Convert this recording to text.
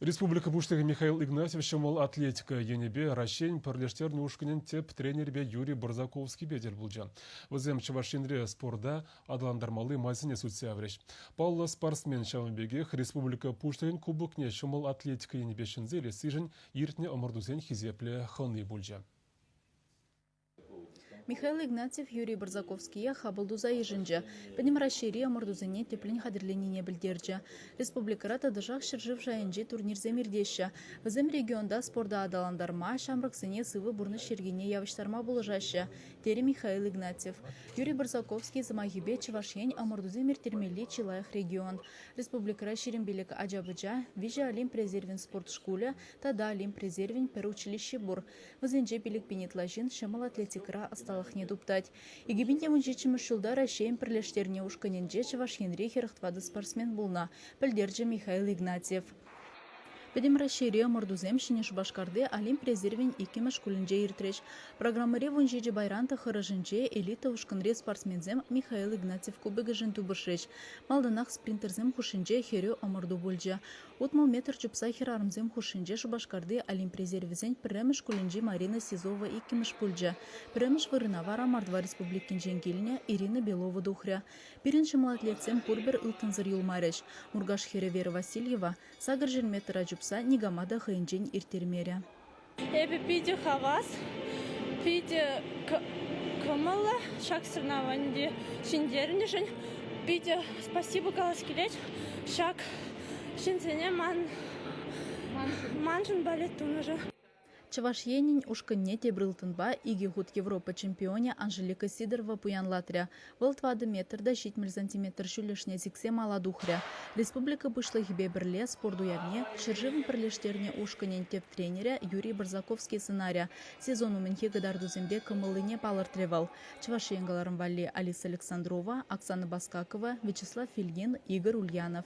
Республика Пуҫлӑхӗ Михаил Игнатьев ҫӑмӑл атлетика енӗпе Раҫҫейӗн пӗрлештернӗ ушкӑнӗн тӗп тренерӗпе Юрий Барзаковскипе тӗл пулчӗ. Вӗсем Чӑваш Енре спорта аталантармалли майсене сӳтсе яврӗҫ. Паллӑ спортсмен ҫавӑн пекех республика Пуҫлӑхӗн Кубокне ҫӑмӑл атлетика енӗпе ҫӗнсе илессишӗн иртнӗ ӑмӑртусен хисеплӗ хӑни пулчӗ. Михаил Игнатьев Юрий Барзаковские хапӑл туса йышӑнчӗ, Пӗтӗм Раҫҫейри ӑмӑртусене тӗплӗн хатӗрленине пӗлтерчӗ. Республикӑра тӑтӑшах ҫӗршыв шайӗнчи турнирсем иртеҫҫӗ. Вӗсем регионта спорта аталантарма, ҫамрӑксене сывӑ пурнӑҫ йӗркине явӑҫтарма пулӑшаҫҫӗ, терӗ Михаил Игнатьев. Юрий Барзаковский сӑмахӗпе, Чӑваш Ен ӑмӑртусем ирттермелли чи лайӑх регион. Республикӑра ҫирӗм пилӗк ача-пӑча, виҫӗ Олимп резервӗн спорт шкулӗ тата Олимп резервӗн пӗр училищи пур. Вӗсенче пилӗкпин ытла ҫын ҫӑмӑл атлетикӑра ӑсталӑхне туптать. Икӗпин те вунҫиччӗмӗш ҫулта Раҫҫейӗн пӗрлештернӗ ушкӑнӗнче Чӑваш Енри хӗрӗх тӑватӑ спортсмен пулнӑ, пӗлтерчӗ Михаил Игнатьев. Пӗтӗм Раҫҫейри ӑмӑртусем Ҫӗнӗ Шупашкарти Олимп резервӗн иккӗмӗш шкулӗнче иртрӗҫ. Программӑри вун ҫичӗ пайран тӑххӑрӑшӗнче элита ушкӑнри спортсменсем Михаил Игнатьев кубокӗшӗн тупӑшрӗҫ. Малтанах спринтерсем хушшинче хӗрӳ ӑмӑрту пулчӗ. Утмӑл метр чупса хӗрарӑмсем хушшинче Шупашкарти Олимп резервӗсен пӗрремӗш шкулӗнчи Марина СИЗОва иккӗмӗш пулчӗ. Пӗрремӗш вырӑна вара Мордва Республикинчен килнӗ Ирина Белова тухрӗ. Пирӗн ҫӑмӑл атлетсем пурпӗр ылтӑнсӑр юлмарӗҫ. Муркаш хӗрӗ Вера Васильева сакӑр ҫӗр метра чупса никама та хӑйӗнчен ирттермерӗ. Эпӗ питӗ хавас, питӗ кӑмӑллӑ ҫак соревновани ҫӗнтернӗшӗн. Питӗ спасибо калас килет ҫак ҫынсене ман маншӑн балет тунӑшӑн. Чӑваш Енӗн ушкӑнне тепӗр ылтӑнпа икӗ хут Европа чемпионӗ Анжелика Сидорова пуянлатрӗ. Вӑл тӑватӑ метр та ҫитмӗл сантиметр ҫӳллӗшне сиксе мала тухрӗ. Республика Пуҫлӑхӗпе пӗрле спорт уявне ҫӗршывӑн пӗрлештернӗ ушкӑнӗн тӗп тренерӗ Юрий Барсаковский сӑнарӗ. Сезон умӗнхи кӑтартусемпе кӑмӑллине палӑртрӗ вӑл. Чӑваш Ен кӑларӑм валли Алиса Александрова, Оксана Баскакова, Вячеслав Филгин, Игорь Ульянов.